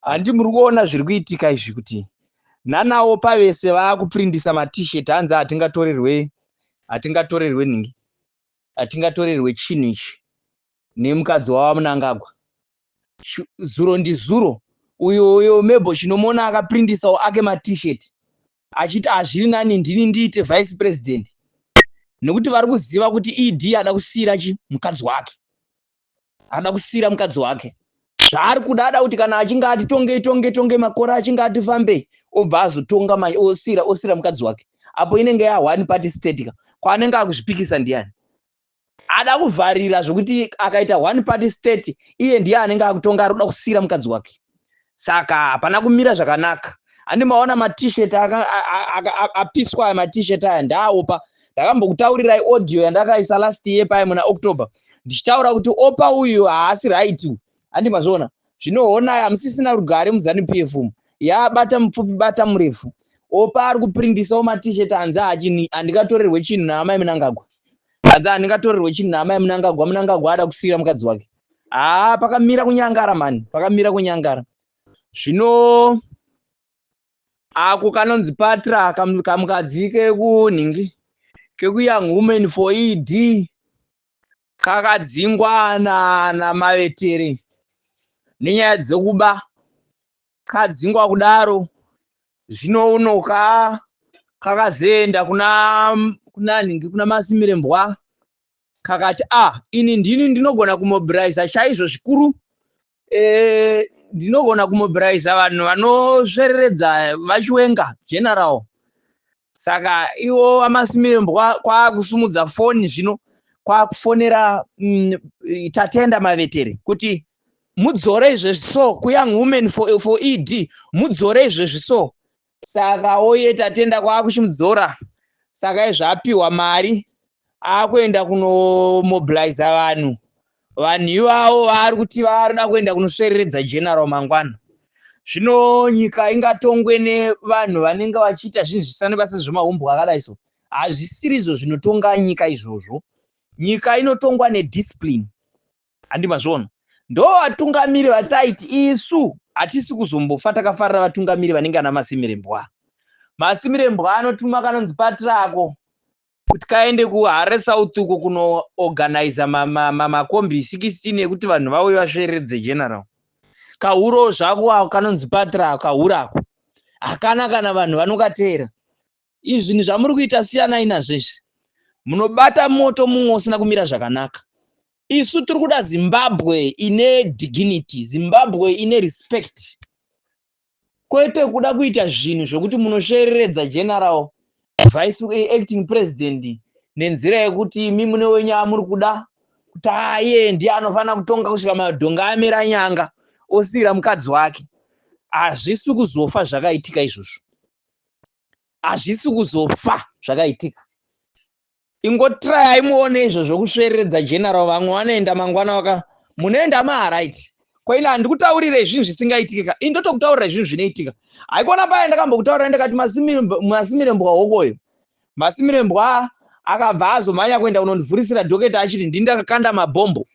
handi muri kuona zviri kuitika izvi kuti nanawo pavese vaakuprindisa matishet hanzi hatingatorerwe hatingatorerwe nhingi hatingatorerwe chinhu ichi nemukadzi wava munangagwa zuro ndizuro uyo uyo mebo chinomuona akaprindisawo ake matishet achiti hazviri nani ndini ndiite vice president nekuti vari kuziva kuti ed ada kusiyira chi mukadzi wake ada kusiira mukadzi wake zvaari kuda ada kuti kana achinge ati tonge tonge tonge makore achinge ati fambei obva azotonga manje osira osira mukadzi wake apo inenge yahwani pati stetika kwaanenge akuzvipikisa ndiyani ada kuvharira zvekuti akaita one party state iye ndiye anenge akutonga ari kuda kusira mukadzi wake saka hapana kumira zvakanaka handi maona matishet apiswa aya matishet aya ndaaopa ndakambokutaurirai audio yandakaisa last year paye muna october ndichitaura kuti opa uyu haasi right handi mazviona zvinoonai hamusisina rugare muzanup f umu yaabata mupfupi bata murefu opa ari kuprindisawo matishet hanzi hachini handikatorerwe chinhu naamai munangagwa hanzi handikatorerwe chinhu naamai munangagwa munangagwa ada kusiyira mukadzi wake haa pakamira kunyangara mani pakamira kunyangara zvino ako kanonzi patra kamukadzi kekunhingi kekuyoung woman for ed kakadzingwa namavetere nenyaya dzekuba kadzingwa kudaro zvino uno ka kakazoenda kuna kuna nhingi kuna masimire mbwa Kakati, ah, ini ndini ndinogona kumobilizer chaizvo zvikuru. Eh, ndinogona kumobilizer vanhu vanosvereredza vachiwenga general. Saka iwo amasimirembwa kwakusumudza foni zvino kwakufonera mm, tatenda mavetere kuti mudzore izvezvi so kuyang woman for, for ed mudzore izvezvi so saka oye tatenda kwakuchimudzora saka izvi apiwa mari akuenda kunomobiliza vanhu vanhu ivavo vaari kuti varida kuenda kunosvereredza general mangwana zvino nyika ingatongwe nevanhu vanenge vachiita zvinhu zvisane basa zvemahumbwa akadai so hazvisirizvo zvinotonga nyika izvozvo nyika inotongwa nediscipline Handi mazvona ndo vatungamiri vataiti isu hatisi kuzombofa takafarira vatungamiri vanenge ana Masimirembwa. Masimirembwa anotuma kanonzi patrako kuti kaende kuHare South uko kunoorganiza makombi ma, ma, 16 ekuti vanhu vauye vasveredze general. Kahuro zvako ako kanonzi patra kahura ako hakana kana vanhu vanokateera izvi zvinhu zvamuri kuita siyanai nazvo izvi munobata moto mumwe usina kumira zvakanaka isu tiri kuda zimbabwe ine dignity zimbabwe ine respect kwete kuda kuita zvinhu zvokuti munoshereredza general vice acting president nenzira yekuti mi mune wenyu amuri kuda kuti aye ndiye anofanira kutonga kusvika madhonga amira nyanga osiyira mukadzi wake hazvisi kuzofa zvakaitika izvozvo hazvisi kuzofa zvakaitika ingotirayai muone izvo zvokusvereredza general vamwe vanoenda mangwana waka munoenda maaright kwaina handikutaurire zvinhu zvisingaitike ka ini ndotokutaurira zvinhu zvinoitika haikona paya ndakambokutaurira ndakati masimire mbwa hokoyo Masimirembwa akabva azomhanya kuenda kunondivhurisira dhoketa achiti ndini ndakakanda mabhombo.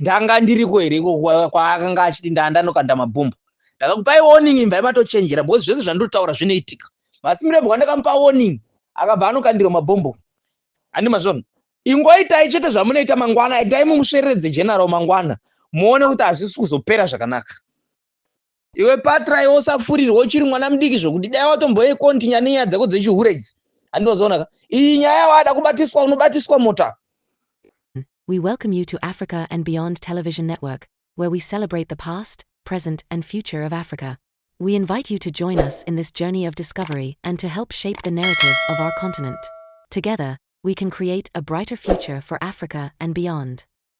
Ndanga ndiriko here iko kwaakanga achiti ndaa ndanokanda mabhombo. Ndakakupai warning imvai matochenjera because zvese zvandotaura zvinoitika. Masimirembwa ndakamupa warning akabva anokandirwa mabhombo. Handi mazvona. Ingoitai chete zvamunoita mangwana itai mumusvereredze general mangwana muone kuti hazvisi kuzopera zvakanaka. Iwe patra iwe usafurirwa uchiri mwana mudiki zvokuti dai watomboye kontinya nenyaya dzako dzechihure idzi. Handinozoona ka. Iyi nyaya wada kubatiswa unobatiswa mota. We welcome you to Africa and Beyond Television Network, where we celebrate the past, present, and future of Africa. We invite you to join us in this journey of discovery and to help shape the narrative of our continent. Together, we can create a brighter future for Africa and beyond.